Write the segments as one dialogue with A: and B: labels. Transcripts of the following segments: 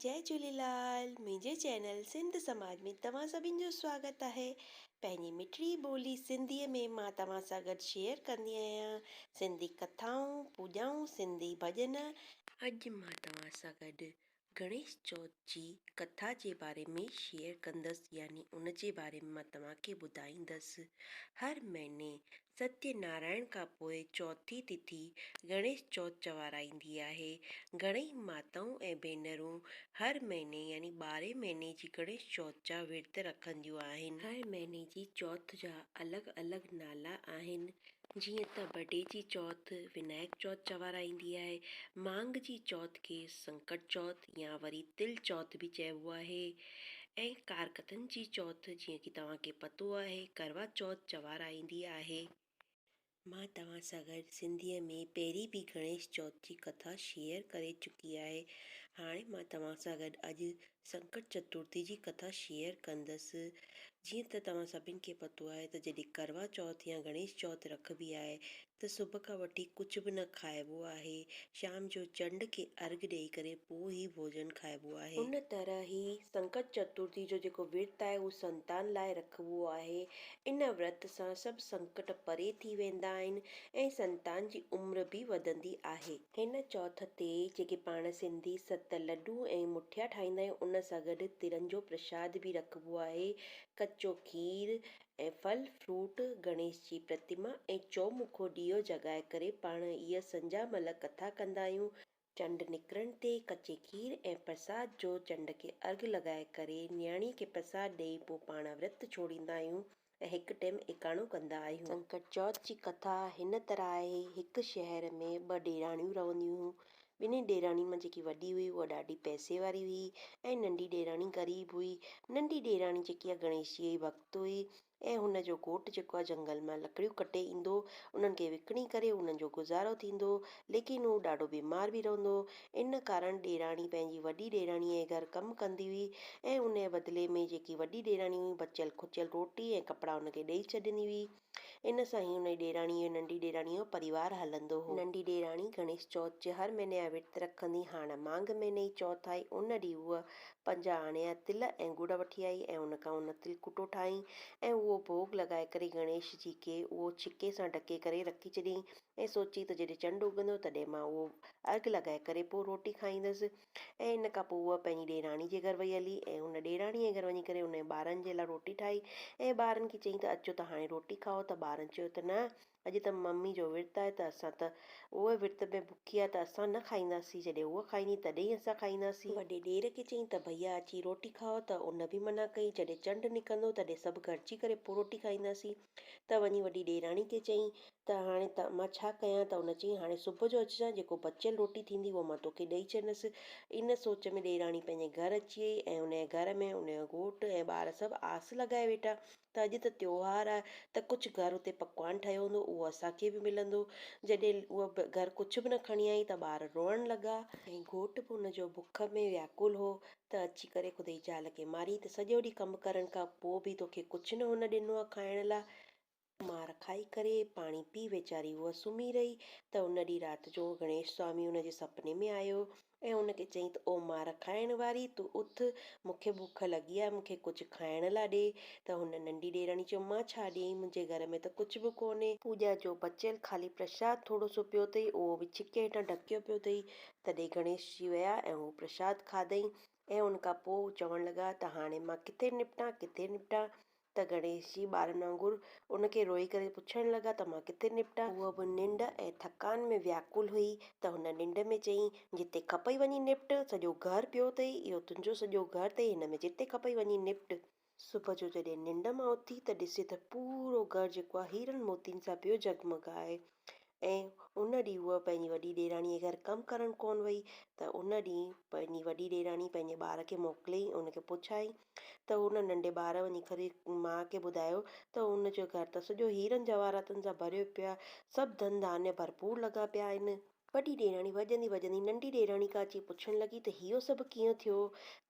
A: جئي جهوليلال منهنجي چينل سنڌ سماج ۾ توهان سڀين جو سواگت آهي پنهنجي مٺڙي ٻولي سنڌي ۾ مان توهان سان گڏ شيئر ڪندي آهيان سنڌي ڪٿائون پوڄائون سنڌي ڀڄن اڄ مان توهان سان گڏ گڻيش چوٿ جي ڪٿا جي باري ۾ شيئر ڪندس يعني ان جي باري ۾ مان توهان کي ٻڌائيندس هر مهيني ستيه نارائڻ کان پوء چوٿين تٿي گڻيش چوٿ چوارائيندي آهي. گهڻيئي ماتائون ۽ ڀينرون هر مهيني يعني ٻارهين مهيني جي گڻيش چوٿ جا ورت رکنديون آهن. هر مهيني جي چوٿ جا الڳ الڳ نالا آهن جيئن ته بڊي جي چوٿ، ونائڪ چوٿ چوارائيندي آهي، مانگ جي چوٿ کي سنڪٽ چوٿ، يا وري تل چوٿ به چئبو آهي ۽ ڪارڪتن جي چوٿ جيئن ڪي توهان کي پتو آهي ڪروا چوٿ چوارائيندي آهي. مان توهان سان گڏ سنڌيء ۾ پهرين به گڻيش چوٿ جي ڪٿا شيئر ڪري چڪي آهي. هاڻي مان توهان سان گڏ اڄ سنڪٽ چترٿي جي ڪٿا شيئر ڪندس. جيئن ته توهان سڀني کي پتو آهي ته جڏهن ڪروا چوٿ يا گڻيش چوٿ رکبي آهي ته صبح کان وٺي ڪجهه به نه کائبو آهي، شام جو چنڊ کي ارگهه ڏيئي ڪري پوء هي ڀوڄن کائبو آهي. ان طرح هي سنڪٽ چترٿي جو جيڪو ورت آهي اهو سنتان لاء رکبو آهي. ان ورت سان سڀ سنڪٽ پري ٿي ويندا آهن ۽ سنتان جي عمر به وڌندي آهي. هن چوٿ تي جيڪي پاڻ سنڌي ست لڏو ۽ مٺيا ٺاهيندا آهيون ان سان گڏ ترن جو پرشاد به رکبو آهي، ڪچو کير ۽ ڦل فروٽ، گڻيش جي پرتما ۽ چؤمکو ڏيئو جڳائي ڪري پاڻ هيء سنجهه مهل ڪٿا ڪندا آهيون. چنڊ نڪرڻ تي ڪچي کير ۽ پرساد جو چنڊ کي ارگهه لڳائي ڪري نياڻي کي پرساد ڏيئي پوء پاڻ ورت ڇوڙيندا آهيون ۽ هڪ ٽيم ايڪاڻو ڪندا آهيون. سنڪٽ چوٿ جي ڪٿا هن طرح آهي، هڪ شهر ۾ ٻه ڏيراڻيون رهنديون هيون، ٻنهي ڏيراڻين مان جيڪي وڏي هئي اها ڏاڍي پئسي واري هئي ۽ ننڍي ڏيراڻي غريب هئي. ننڍي ڏيراڻي جيڪي آهي گڻيش جي جي ڀڳت هئي ۽ هن جو گهوٽ جيڪو آهي جهنگل مان لڪڙيون ڪٽي ايندو هو انهن کي وڪڻي ڪري انهن جو گذارو ٿيندو هو ليڪن هو ڏاڍو بيمار به رهندو هو ان ڪارڻ ڏيراڻي پنهنجي وڏي ڏيراڻيء جي گهر ڪم ڪندي هئي ۽ انهيء بدلي ۾ جيڪي وڏي ڏيراڻي هئي بچيل کچيل روٽي ۽ ڪپڙا هن کي ڏئي ڇڏيندي هئي. ان سان ئي انهيء ڏيراڻيء جو ننڍي ڏيراڻيء جو پريوار هلندو هو. ننڍي ڏيراڻي گڻيش چوٿ جي هر مهيني جا ورت رکندي. هاڻ مانگهه مهيني جي چوٿ آئي. ان ڏينهن هوء پنجاهه آڻي جا تل ۽ ڳڙ وٺي آئي ۽ ان کان ان تلڪوٽو ٺاهيائين ۽ اهو ڀوڳ لڳائي ڪري گڻيش جي کي اهو ڇڪي سان ڍڪي ڪري رکي ڇڏيائين ۽ سوچيائين ته جڏهن چنڊ اگهندو تڏهن مان اهو ارگهه لڳائي ڪري پوء روٽي کائيندس. ۽ ان کان پوء هوء پنهنجي ڏيراڻي جي گهر وئي هلي ۽ هن ڏيراڻيء جي گهر وڃي ڪري ان جي ٻارن جي لاء روٽي ٺاهي ۽ ٻارن کي چيائين ته اچو ته هاڻي روٽي کائو ته ٻارن چيو ته نه اڄ ته ممي جو ورت آهي ته اسان ته اهي ورت ۾ بکيا آهي ته اسان نه کائينداسين جڏهن هوء کائيندي تڏهن ئي اسان کائينداسين. وڏي ڏير کي چيائين ته ڀئيا اچي روٽي کائو ته ان به منع ڪئي جڏهن چنڊ نڪرندو تڏهن سڀ گڏجي ڪري پوء روٽي کائينداسين. ته وڃي وڏي ڏيراڻي کي چئين ته هاڻي مان ڇا ڪيان ته ان چيائين هاڻي صبح جو اچجان جيڪو بچيل روٽي ٿيندي اها مان توکي ڏئي ڇڏندس. ان سوچ ۾ ڏيراڻي پنهنجي گهر اچي وئي ۽ ان جي گهر ۾ ان جو گهوٽ ۽ ٻار سڀ آس لڳائي ويٺا ته اڄ ته تيوهار آهي ته ڪجهه گهر اتي پڪوان ٺهيو هوندو اهو اسان کي به ملندو. جڏهن هوء گهر ڪجهه به نه کڻي آئي ته ٻار روئڻ لڳا. ۽ گهوٽ به ان جو بک ۾ وياڪل هو ته اچي ڪري خدا جي زال کي مارين ته سڄو ڏينهن ڪم ڪرڻ کان پوء به توکي ڪجهه نه هن ڏنو آهي کائڻ لاء. مار کائي ڪري پاڻي پي ويچاري هوء سمهي رهي ته ان ڏينهن رات جو گڻيش سوامي هن جي سپني ۾ آيو ۽ هن کي چيائين ته او مار کائڻ واري تون اٿ مون کي بوک لڳي آهي مون کي ڪجهه کائڻ لاء ڏي ته هن ننڍي ڏيراڻي چيو مان ڇا ڏيئين منهنجي گهر ۾ ته ڪجهه به ڪونهي. پوڄا جو بچيل خالي پرشاد ٿورو سو پيو اٿئي اهو به ڇڪي هيٺان ڍڪيو پيو اٿئي تڏهن گڻيش جي ويا ۽ هو پرشاد کاڌئين ۽ ان کان پوء هو چوڻ لڳا ته هاڻي مان ڪٿي نپٽان ڪٿي نپٽان؟ ته گڻيش جي ٻارن وانگر ان کي روئي ڪري پڇڻ لڳا ته مان ڪٿي نپٽان؟ هوء به ننڊ ۽ ٿڪان ۾ وياڪل هئي ته هن ننڊ ۾ چيائين، جتي کپئي وڃي نپٽ، سڄو گهر پيو اٿئي، اهو تنهنجو سڄو گهر اٿئي، هن ۾ جتي کپئي وڃي نپٽ. صبح جو جڏهن ننڊ مان اٿي ته ڏسي ته پورو گهر جيڪو آهي هيرن موتين سان پيو جڳمڳائي ۽ ان ڏينهن هوء پنهنجي وڏي ڏيرانيء گهر ڪم ڪرڻ ڪونه وئي ته ان ڏينهن پنهنجي وڏي ڏيراني پنهنجي ٻار کي موڪليائين ۽ ان کي پڇيائين ته ان ننڍي ٻار وڃي کري ماء کي ٻڌايو ته ان جو گهر ته سڄو هيرن جواهراتن سان ڀريو پيو آهي سڀ ڌن ڌانيا ڀرپور لڳا پيا آهن وڏي ڏيراڻي وڄندي وڄندي ننڍي ڏيراڻي کان اچي پڇڻ لڳي ته اهو سڀ ڪيئن ٿيو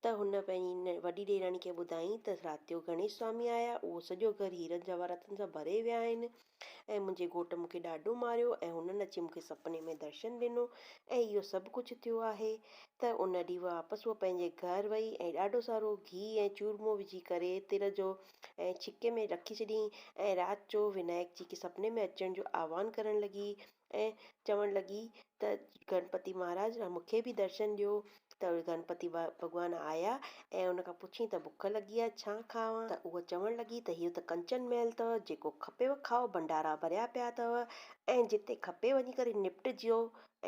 A: ته هن پنهنجي وڏي ڏيراڻي کي ٻڌائين ته رات جو گڻيش سوامي آيا اهو سڄو گهر هيرن جواهراتن سان ڀري ويا آهن ۽ منهنجي گهوٽ مون کي ڏاڍو ماريو ۽ هنن اچي مون کي سپني ۾ درشن ڏنو ۽ اهو سڀ ڪجهه ٿيو آهي ته ان ڏينهن واپس هوء پنهنجي گهر وئي ۽ ڏاڍو سارو گهي ۽ چورمو وجهي ڪري تر جو ۽ ڇڪي ۾ رکي ڇڏيائين ۽ رات جو ونائڪ جي کي سپني ۾ اچڻ جو آهوان ڪرڻ لڳي ۽ چوڻ لڳي ته گڻپتي مهاراج مون کي به درشن ڏيو ته گڻپتي ڀڳوان آيا ۽ ان کان پڇيائين ته بک لڳي آهي ڇا کاوان ته هوء چوڻ لڳي ته اهو ته ڪنچن محل اٿو جيڪو کپيو کائو ڀنڊارا ڀريا پيا اٿو ۽ جتي کپي وڃي ڪري نپٽجو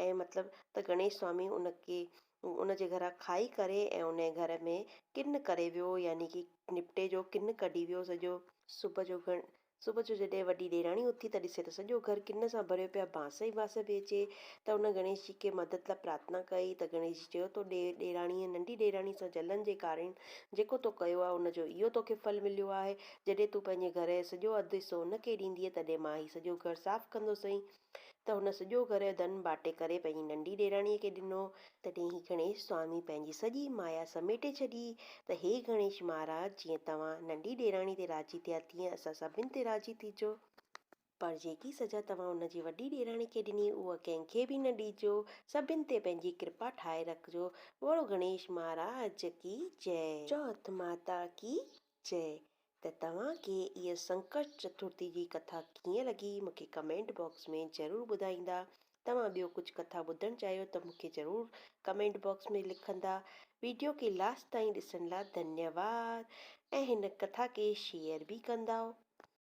A: ۽ مطلب ته گڻيش سوامي ان کي ان جي گهران کائي ڪري ۽ ان جي گهر ۾ ڪن ڪري ويو يعني ڪي نپٽي جو ڪن ڪڍي ويو سڄو. صبح جو گڻ صبح جو جڏهن وڏي ڏيراڻي اٿي ته ڏسي ته سڄو گهر ڪن سان ڀريو پيو آهي، بانس ئي بانس پئي اچي ته ان گڻيش جي کي مدد لاء پرارٿنا ڪئي ته گڻيش جي چيو تو ڏي ڏيراڻيء ننڍي ڏيراڻي سان جلن جي ڪارڻ جيڪو تو ڪيو آهي ان جو اهو توکي ڦل مليو آهي، جڏهن تون پنهنجي گهر جو سڄو اڌ حصو ان کي ڏيندينء تڏهن مان هي سڄو گهر صاف ڪندوسئين، ته هن سڄو گهر ڌن ٻاٽي ڪري پنهنجي ننڍي ڏيراڻيء کي ڏنو. تڏهن هي گڻيش سوامي پنهنجي سڄي مايا سميٽي ڇڏي ته هي گڻيش مهاراج جيئن توهان ننڍي ڏيراڻي تي راضي ٿيا تيئن اسان سڀن تي راضي ٿيجو، پر جيڪي سزا توهان ان جي وڏي ڏيراڻي کي ڏني اها ڪنهن کي به نه ڏيجو، سڀن تي پنهنجي ڪرپا ٺاهي رکجو، بوڙو گڻيش مهاراج ڪي جئي. چوٿ ماتا ڪي چئه ته توهان کي هيء سنڪشٽ چترٿي جي ڪٿا ڪيئن لڳي مون کي ڪمينٽ باڪس ۾ ضرور ٻڌائيندا. توهان ٻيو ڪجهه ڪٿا ٻڌڻ چاهيو ته مون کي ضرور ڪمينٽ باڪس ۾ لکندا. ويڊيو کي لاسٽ تائين ڏسڻ لا ڌنيواد ۽ هن ڪٿا کي شيئر به ڪنداؤ.